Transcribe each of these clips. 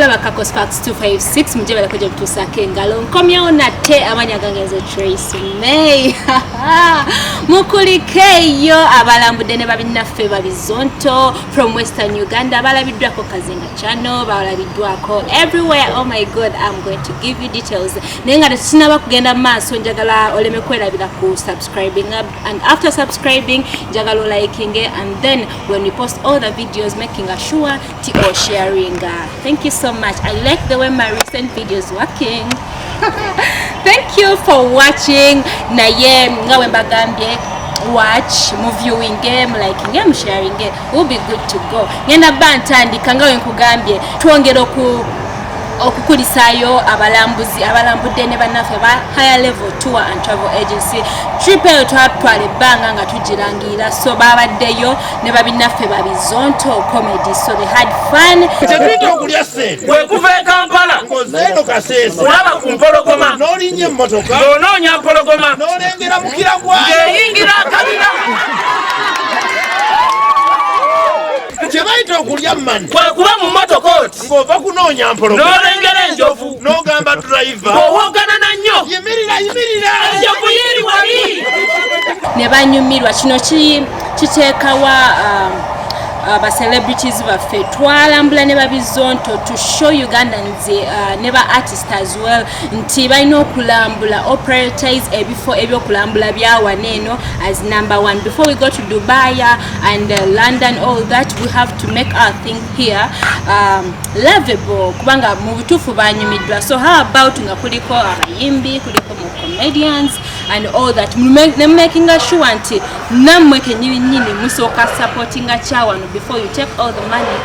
laba kako sparks 256 muje balakoja okutuusaako engalo nkomyewo nate amanya gange nze trace may mukulikeeyo abalambudde ne babinnaffe babizonto from western uganda balabiddwako kazinga chano balabiddwako everywhere oh my god im going to give you details naye nga tetusinaba kugenda mu maaso njagala oleme kwerabira ku subscribing and after subscribing njagala olikinge and then when we post all the videos making assure or sharing uh, thank you so much i like the way my recent videos working thank you for watching naye nga we mbagambye watch mu viewing game like nge mu sharing game will be good to go ngenda ba ntandika nga we nkugambye twongera oku okukulisaayo abalambuzi abalambudde ne bannaffe ba higher level tour and travel agency trip eyo twatwala ebbanga nga tugirangirira so babaddeyo ne babinnaffe ba bizonto comedy so they had fun kyetuyita okulya sente wekuva e kampala ngozeeno kaseesa olaba ku mpologoma n'olinnya emmotoka ng'onoonya mpologoma n'olengera mukira gwayo ng'eyingira akabira kyebayita okulya mani kwekuba mu motoka oti ng'ova kunoonya mpologoma n'olengera enjovu n'ogamba durayiva ng'owoggana na nnyo yimirira yimirira enjovu yiri wali ne banyumirwa kino kiteekawa um, uh, ba celebrities baffe twalambula ne babizonto to show ugandans uh, ne ba artist as well nti balina okulambula o prioritize ebifo ebyokulambula byawana eno as number one before we go to dubai uh, and london all that we have to make our thing here um, lovable kubanga mu butuufu banyumiddwa so how about nga kuliko abayimbi kuliko mu comedians and all that ne makinga sure nti nammwe kenyininyini musooka supportinga kyawano before you take all the money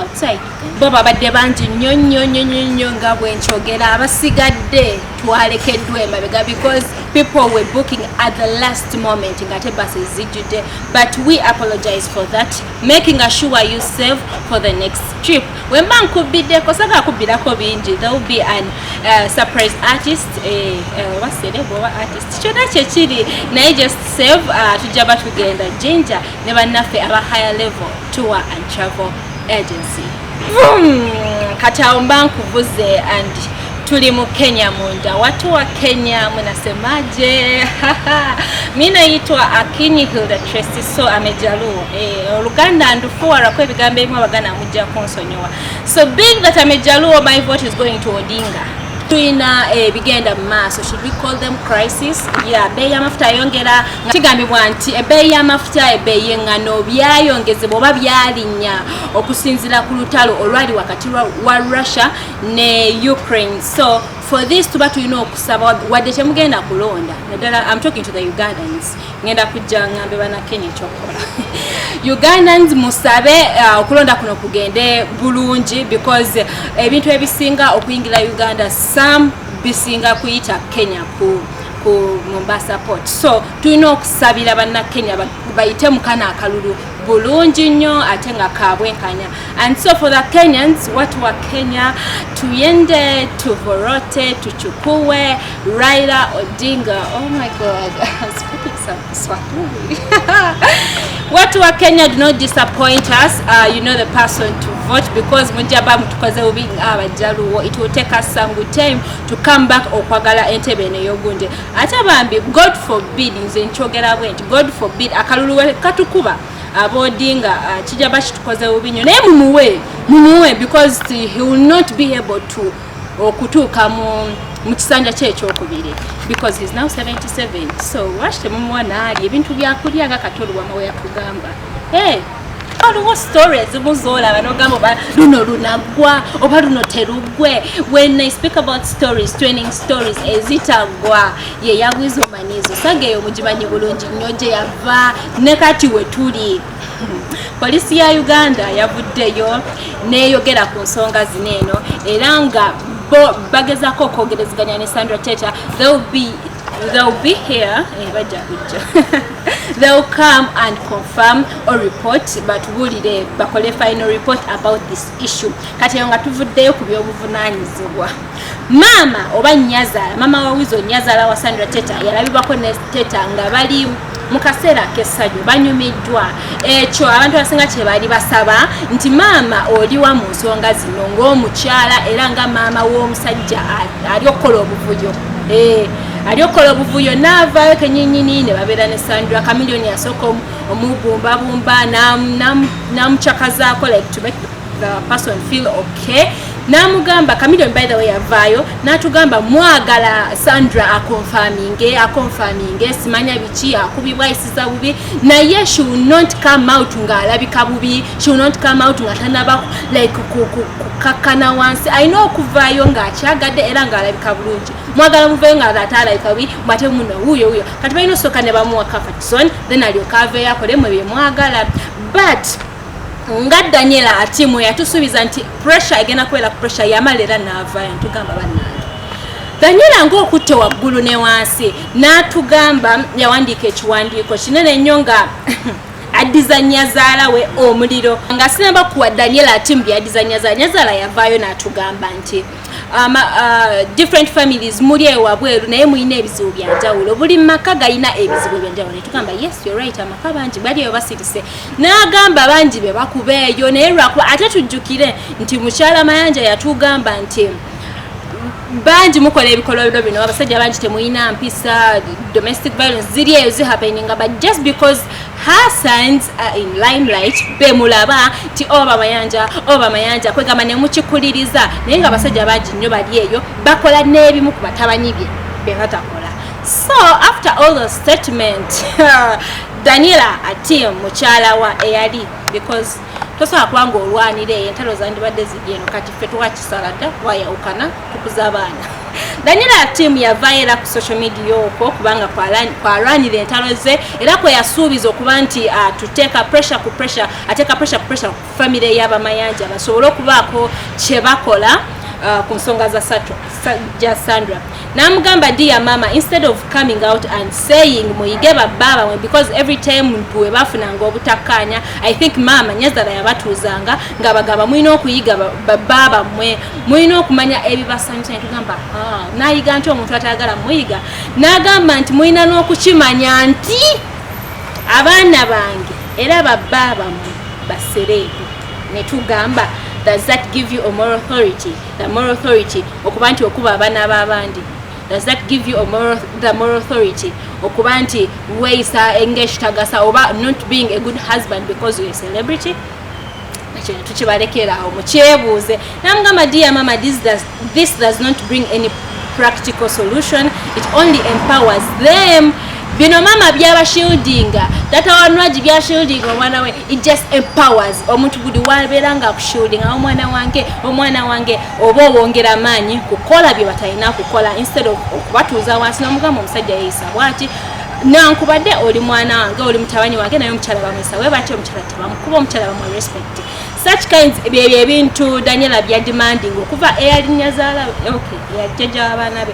outside bo babadde bangi nnyo nnyo nnyo nnyo nnyo nga bwenkyogera abasigadde twalekeddwa emabega because people were booking at the last moment ngate basi zijjudde but we apologize for that making a sure you save for the next trip wemba nkubbideko saka kubbirako bingi there will be an uh, surprise artist eh, uh, waserebo oba artist kyona kyekiri naye just save uh, tujja batugenda jinja ne bannaffe aba higher level tour and travel agency kati awo mba nkuvuze and tuli mu Kenya munda. Watu wa Kenya mnasemaje? mi naitwa Akinyi Hilda Tracy so amejaluo eh, oluganda e, ndufuwarako ebigambo ebimu abaganda mujja kunsonyiwa so being that amejaluo my vote is going to Odinga tulina ebigenda eh, mu maaso should we call them crisis ya ebbeeyi y'amafuta ayongera kigambibwa nti ebbeeyi y'amafuta ebbeeyi y'eŋŋano byayongezebwa oba byalinnya okusinzira ku lutalo olwali wakati wa russia ne ukraine so for this tuba tulina okusaba wadde temugenda kulonda naddala am talking to the ugandans ngenda kujja ngambe banakenya ekyokukola ugandans musabe uh, okulonda kuno kugende bulungi because ebintu ebisinga okuyingira uganda some bisinga kuyita kenya ku ku mombasa port so tulina okusabira bannakenya bayite mukana akalulu bulungi nnyo ate nga kabwenkanya and so for the kenyans watu wa kenya tuyende tuvorote tuchukue raila odinga oh my god watu wa kenya do not disappoint us uh, you know the person to vote because mujaba mutukoze bubi nga abajaluwo it will take us some good time to come back okwagala entebe eno eyogunde ate bambi god forbid nze nkyogera bwe nti god forbid akalulu we katukuba abodinga uh, kijja bakitukoze bubi nyo naye mumuwe mumuwe because he will not be able to okutuuka mu mu kisanja kye ekyokubiri because he's now 77 so lwaki temumuwa naali ebintu byakulya nga katoluwamawe yakugamba hey. waliwo story ezimu zolaba nogamba oba luno lunaggwa oba luno teruggwe when i speak about stories training stories ezitaggwa ye yagwiza omanyi ezo saga eyo mugimanyi bulungi nnyo gye yava ne kati we tuli polisi ya uganda yavuddeyo neyogera ku nsonga zino eno era nga bo bagezako okwogerezeganya ne sandra teta they'll be, they'll be here eh, bajja kujja They'll come and confirm or report but bulire bakole final report about this issue kati eyo nga tuvuddeyo ku by'obuvunanyizibwa maama oba nyazala maama wa wizo nyazala wa sandra teta yalabibwako ne teta nga bali mu kaseera ak'essanyu banyumiddwa ekyo abantu abasinga kye baali basaba nti maama oliwa mu nsonga zino ng'omukyala era nga maama w'omusajja ali okukola obuvuyo eh, ali okukola obuvuyo naavaayo kenyinyini ne babeera ne sandra kamilioni asooka omubumbabumba namucakazaako like to make the person feel okay namugamba kamilioni by the way yavaayo natugamba mwagala sandra akonfaminge akonfaminge simanya biki akubibwa kuwuliriza bubi naye she will not come out nga alabika bubi she will not come out nga tanaba like kukakkana wansi alina okuvaayo nga akyagadde era nga alabika bulungi mwagala muvayo nga ate alabika bubi mwate muno wuyo wuyo kati balina osooka ne bamuwa kafatison then alyoka aveeyo akolemu ebyo mwagala but nga daniela atimu yatusuubiza nti pressure egenda kubeera ku pressure yamala era naavayo ntugamba banna ganyula ng'okutte waggulu ne wansi n'atugamba yawandiika ekiwandiiko kinene nnyo nga addiza nyazaala we omuliro nga sinaba kuwa daniel ati mbu yaddiza nyazaala nyazaala yavaayo n'atugamba nti um, uh, different families muli ewabweru naye mulina ebizibu byanjawulo buli maka galina ebizibu ebyanjawulo netugamba yes you're right amaka bangi bali eyo basirise n'agamba bangi be bakubeeyo naye lwakuba ate tujjukire nti mukyala mayanja yatugamba nti bangi mukola ebikolobero bino abasajja bangi temulina mpisa domestic violence ziri eyo zihapeninga but just because her signs are in limelight bemulaba nti oba oh, mayanja oba oh, mayanja kwegamba nemukikuliriza naye nga abasajja bangi nnyo bali eyo bakola n'ebimu ku batabanyi bye bebatakola so after all the statement daniela atim mukyala wa eyali because tosobola kuba nga olwanira eyo entalo zandibadde ziri eno kati ffe twakisala dda twayawukana tukuza abaana danyera tiimu yavayo era ku social media okwo kubanga kwalwanira entalo ze era kweyasuubiza okuba nti ah, tuteeka pressure ku pressure ateeka pressure ku pressure ku famire y'abamayanja basobole okubaako kyebakola Uh, ku nsonga ja sandra namugamba dia mama instead of coming out and saying muyige babbaaba mwe because every time mtu webafunanga obutakkaanya i think mama nyazala yabatuuzanga nga bagamba mulina okuyiga babbaaba mwe mulina okumanya ebibasanyusa netugamba ah, nayiga nti omuntu atayagala muyiga nagamba nti mulina n'okukimanya nti abaana bange era babbaaba mwe basereebu netugamba does that give you a moral authority the moral authority okuba nti okuba abaana b'abandi does that give you a moral, the moral authority okuba nti weeyisa enga ekitagasa oba not being a good husband because you're a celebrity ekyo netukibalekera awo mukyebuuze namugamba dia mama this does, this does not bring any practical solution it only empowers them bino mama byabashildinga tata wanwagi byashildinga omwana we it just empowers omuntu buli wabeera nga akushielding awo omwana wange omwana wange oba owongera amaanyi kukola bye batalina kukola instead of okubatuuza wansi nomugamba omusajja yeyisa bwati nankubadde oli mwana wange oli mutabani wange naye omukyala bamuyisa we batya omukyala tebamukuba omukyala bamu respect such kinds byebyo ebintu daniela byademanding okuva eyalinya zaala okay eyajjaja wabaana be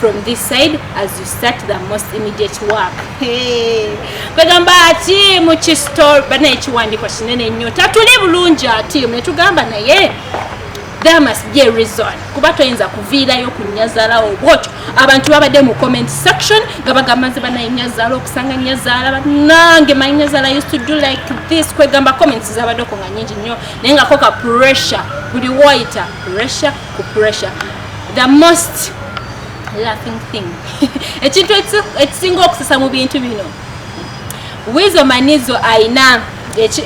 from this side as you start the most immediate work kwegamba ati mukistore bana ekiwandiko kinene nnyo tatuli bulungi ati netugamba naye there must be a reason kuba toyinza kuviirayo ku nyazalawo bwotyo abantu babadde mu comment section nga bagamba nze banaye nyazala okusanga nyazala banange my nyazala used to do like this kwegamba comments zabaddeko nga nyingi nnyo naye ngako ka pressure buli woyita pressure ku pressure the most laughing thing ekintu ekisinga okusesa mu bintu bino wizo manizo ayina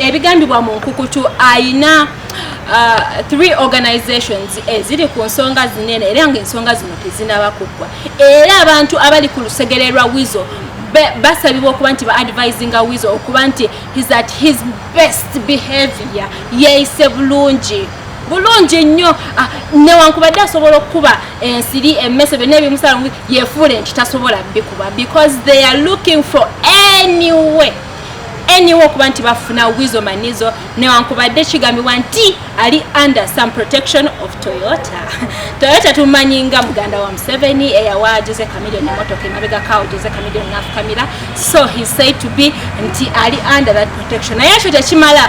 ebigambibwa mu nkukutu ayina uh, three organizations eziri ku nsonga zinene era nga ensonga zino tezinaba kuggwa era abantu abali ku lusegere lwa wizo basabibwa okuba nti baadvisinga wizo okuba nti his at his best behavior yeeyise bulungi bulungi nnyo ah, newankubadde asobola okukuba ensiri emmese byonna ebimusala yefuula nti tasobola bikuba because they are looking for anyway anyway okuba nti bafuna wizo manizo newankubadde kigambibwa nti ali under some protection of toyota toyota tumanyi nga muganda wa museveni eyawa jose camilion emotoka emabegakawo jose camilion nafukamira so he said to be nti ali under that protection naye ekyo tekimala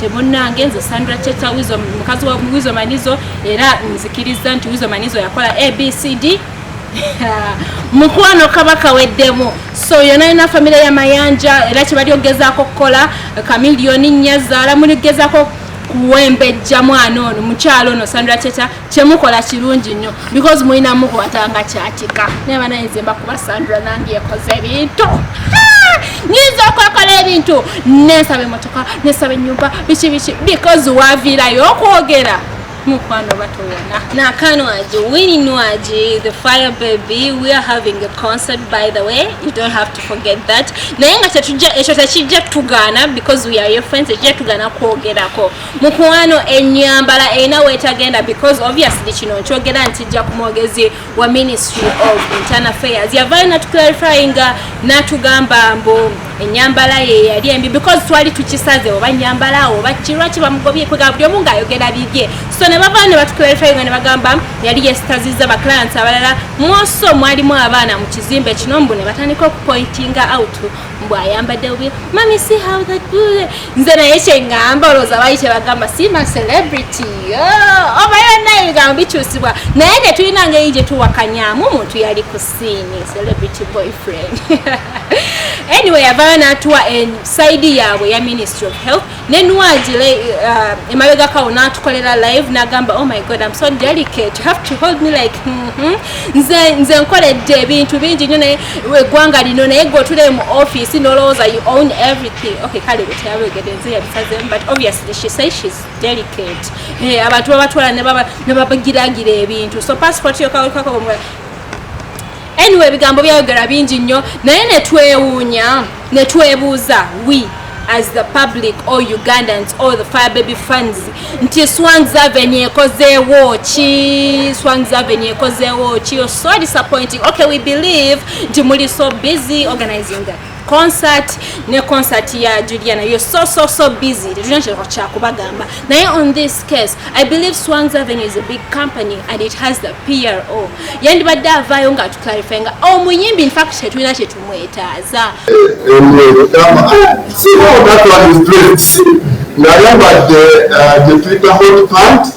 temunange nze sandra cheta wizo mukazi wa wizo manizo era nzikiriza nti wizo manizo yakola abcd mukwano kaba kaweddemu so yona yona famire ya mayanja era kyebali okugezaako okukola kamiliyoni nnya zaala muli kugezaako kuwembejja mwana ono mukyalo ono sandra cheta kyemukola kirungi nnyo because mulina mukwata nga kyatika naye banaye nze mbakuba sandra nange yakoze ebintu nyinza okwekola ebintu nensaba emotoka nesaba enyumba biki biki because waviirayo okwogera mukwano batowona nakanwaji wininwaji the fire baby we are having a concert by the way you don't have to forget that naye nga kyetujja ekyo tekijja tugaana because we are your friends ekijja tugaana kwogerako mukwano enyambala erina wetagenda because obviously kino nkyogera nti jja ku mwogezi wa ministry of internal affairs yavayo natuclarifyinga natugamba mbu enyambala ye yali embi because twali tukisaze oba nyambala awo bakirwa kibamugobye kwega buli omu ngaayogera bibye so ne bavayo ne batuclarifyinga ne bagamba yali yesitaziza baclients abalala mwoso mwalimu abaana mu kizimbe kino mbu ne batandika okupointinga out mbu ayambadde bubi mami si how that good nze naye kyengamba olowooza bali kyebagamba sima celebrity oh, obayo naye ebigambo bikyusibwa naye tetulina ngeri gye tuwakanyamu omuntu yali ku siini celebrity boyfriend anyway yavayo natuwa en saidi yaabwe ya ministry of health ne Nwagi uh, emabega kawo n'atukolera live n'agamba oh my god I'm so delicate you have to hold me like mm -hmm. nze, nze nkoledde ebintu bingi nyo naye eggwanga lino naye gwe otule mu office n'olowooza you own everything okay kale bwe teyabegede nze yabisazemu but obviously she say she's delicate hey, eh, abantu babatwala ne babagiragira ebintu so passport yokawekwakabomula Anyway ebigambo byayogera bingi nnyo naye netwewuunya netwebuuza we as the public or Ugandans or the fire baby fans nti Swangz Avenue ekozeewo ki Swangz Avenue ekozeewo ki you're so disappointing okay we believe nti muli so busy organizing that concert ne concert ya juliana you're so so so busy tetulina kyereko kyakubagamba naye on this case i believe swans avenue is a big company and it has the pro yandibadde avaayo nga atuclarify nga omuyimbi oh, infact tetulina kyetumwetaaza nayambadde uh, gyetuyita hot pant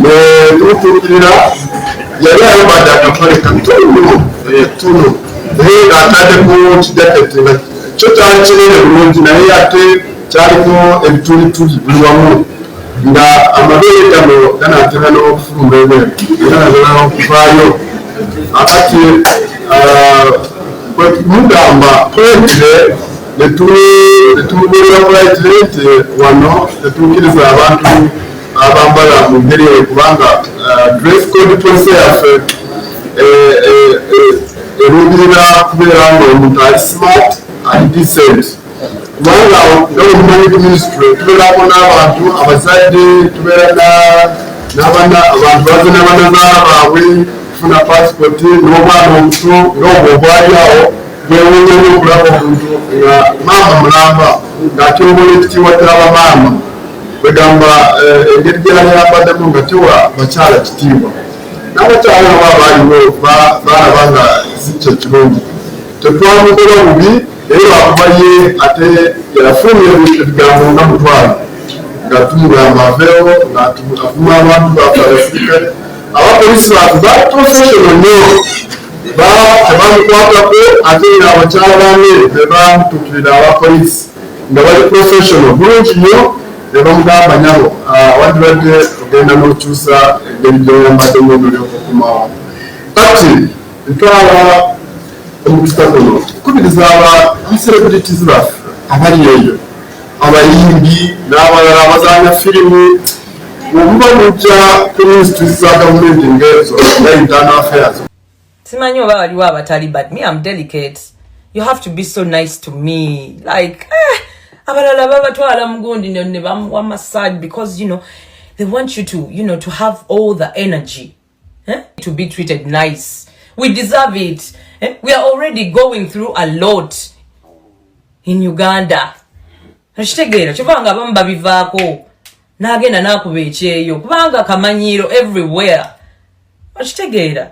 netutuukirira yali ayambadde akapale katono etono naye ng'atadeko kijaketi nga kyo kyali kinene bulungi naye ate kyaliko ebitulituli buli wamu nga amabeere gano ganatera n'okufuluma ebweru era natera okuvaayo akati ah, kwemugamba kwetire netumubulira bwaitire nti wano tetuukiriza abantu abambala mu ngeri eyo kubanga uh, dress code policy yaffe eh, eh, eh, eruubirira kubeera nga omuntu ali smart ali decent kubanga nomumanyi ku ministry tubeerako n'abantu abazadde tubeera n'abana abantu baze n'abanazaala baabwe kufuna pasipoti n'obwana omuto n'obwo obwali awo bwewunyemu okulaba omuntu nga maama mulamba ng'atyongole ekitiibwa ky'abamaama kwegamba eh, engeri gyeyayambaddemu nga tewa bakyala kitiibwa n'abakyala aba baaliwo baalaba nga si kye kirungi tetwamukola bubi naye lwakuba ye ate yafunye ebigambo nga mutwalo nga tumugamba aveewo ngaavuma abantu bafe abasirikale abapolisi bafe batusesono nyo tebamukwatako ate nga abakyala bane bebamutukirira abapolisi nga bali professional bulungi nyo nebamugamba nyabo wandibadde ogenda nokyusa engeri gyoyambadde mu nolyoka okomawo kati ntwala omukisa guno kukubiriza aba celebrities baffe abali eyo abayimbi n'abalala abazanya firimu omuba mujja ku minisitule za gavumenti ngaezo nga internal affairs simanyi oba waliwo abatali but me am delicate you have to be so nice to me like eh, abalala babatwala mugundi ne bamuwa massage because you know they want you to you know to have all the energy eh? to be treated nice we deserve it eh? we are already going through a lot in uganda okitegeera kyova nga abamu babivaako n'agenda n'akuba ekyeyo kubanga kamanyiiro everywhere okitegeera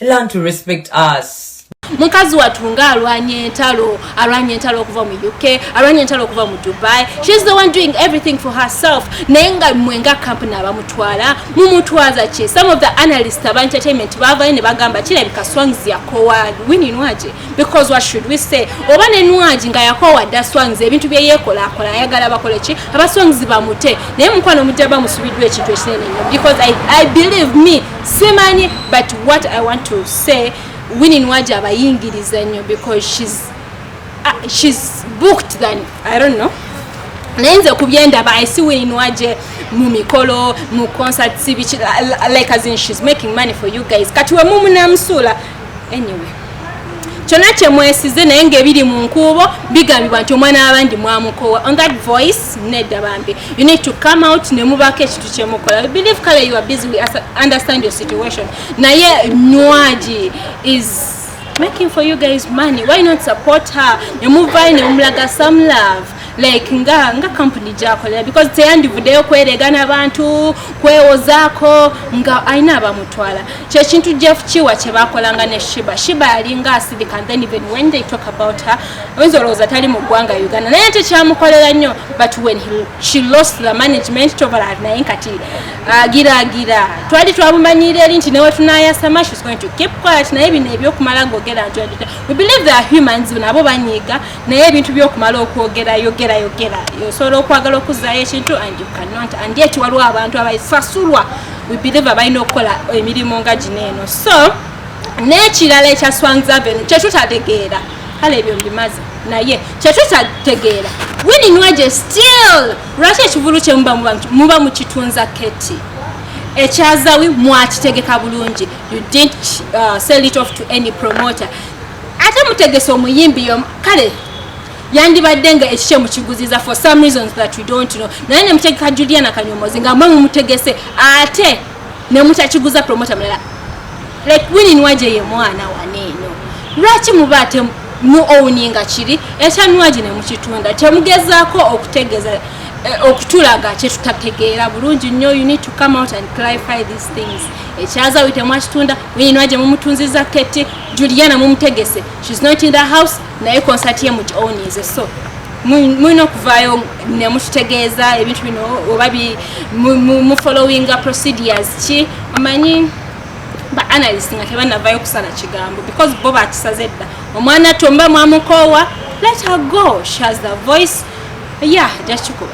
learn to respect us mukazi watu nga alwanye entalo alwanye entalo okuva mu uk alwanye entalo okuva mu dubai shes the one doing everything for herself naye nga mwe nga kampuni abamutwala mumutwaza ki some of the analyst aba entertainment bavayo ne bagamba kirabika swangs yakowa wininwaje because what should we say oba ne nwaji nga yakowa dda swangs ebintu bye yekola akola ayagala bakole ki aba swangs bamute naye mukwano mujja bamusubiddwa ekintu ekinene nnyo because I, i believe me simanyi but what i want to say wini nwaji abayingiriza nnyo because she's, uh, she's booked than i don't know naye nze ku byendaba i see wini nwaji mu mikolo mu concerts biki like as in she's making money for you guys kati wemumu namusuula anyway kyona kyemwesize naye ngaebiri mu nkuubo bigambibwa nti omwana wabandi mwamukowa on that voice nedda bambi you need to come out nemubaako ekintu kyemukola we believe kale you are busy we understand your situation naye nwaji is making for you guys money why not support her nemuvayo nemumulaga some love like nga nga company gyakolera because teyandivuddeyo kwerega nabantu kwewozaako nga alina abamutwala kyekintu jeff kiwa kyebakolanga ne shiba shiba yalinga asirika then even when they talk about her oyinza olowooza tali mu ggwanga uganda naye tekyamukolera nnyo but when he, she lost the management tobalar naye kati agiraagira uh, twali twamumanyiira eri nti newetunayasama she's going to keep quiet naye bino ebyokumala ngaogera nti we believe the humans nabo banyiiga naye ebintu byokumala okwogera yogera yogera osobola okwagala okuzayo ekintu and you cannot and yet waliwo abantu abasasulwa we believe abalina okukola emirimu nga gino eno so n'ekirala ekya swangz avenue kyetutategeera kale ebyo mbimaze naye kyetutategeera wininwaje still lwaki ekivulu kyemuba muba mukitunza keti ekyazawi mwakitegeka bulungi you didn't uh, sell it off to any promoter ate mutegese omuyimbi yomu kale yandibadde nga ekikye mukiguziza for some reasons that we don't know naye nemutegeka juliana kanyomozi nga mwe mumutegese ate nemutakiguza promota mulala like winin waje ye mwana waneeno lwaki muba ate mu owninga kiri ekyanwaji nemukitunda temugezaako okutegeza eh, okutulaga kyetutategeera bulungi nnyo you need to come out and clarify these things ekyazawi temwakitunda wininwaje mumutunziza keti Juliana mumutegese she's not in the house naye concert ye muti ownize so mulina okuvaayo nemututegeeza ebintu bino oba mufollowinga procedures ki omanyi ba analyst nga tebanavayo kusala kigambo because bo bakisaze dda omwana tomba mwamukoowa let her go she has the voice ya yeah, jakikuba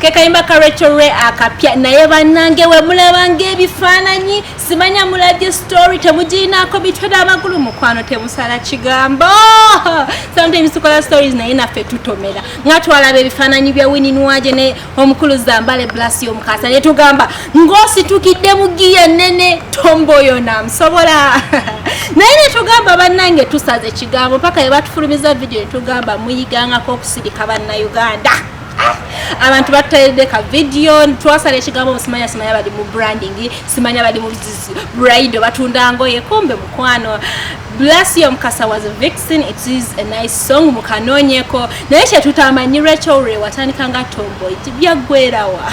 kekayimba ka rachel ray akapya naye banange wemulabanga ebifaananyi simanya mulabye story temugirinaako bitwede amagulu mukwano temusala kigambo sometimes tukola stories naye naffe tutomera nga twalaba ebifaananyi bya wininwaje ne omukulu zambale blasi omukasa naye tugamba ng'ositukidde mu giya nene tomboyo namusobola naye netugamba bannange tusaze ekigambo paka yebatufulumiza vidiyo netugamba muyigangako okusirika bannauganda abantu batutayidde ka vidiyo twasala ekigambo musimanya simanya bali mu branding simanya bali mu brido batunda ngoye kumbe mukwano bless your mukasa was a vixen it is a nice song mukanonyeko naye kyetutamanyi rachel re watandika nga tomboy byaggwerawa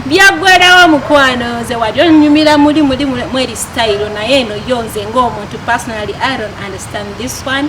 byaggwerawo mukwano nze wali onyumira muli muli mweri style naye eno yo nze ngaomuntu personally i don't understand this one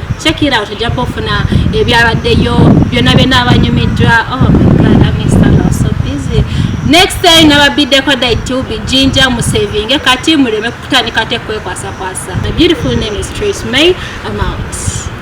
check it out ojja kufuna ebyabaddeyo byonna byonna abanyumiddwa oh my god i miss the love so busy next time nababiddeko dai to be ginger musavinge kati muleme kutandika tekwekwasa kwasa the beautiful name is trace may amount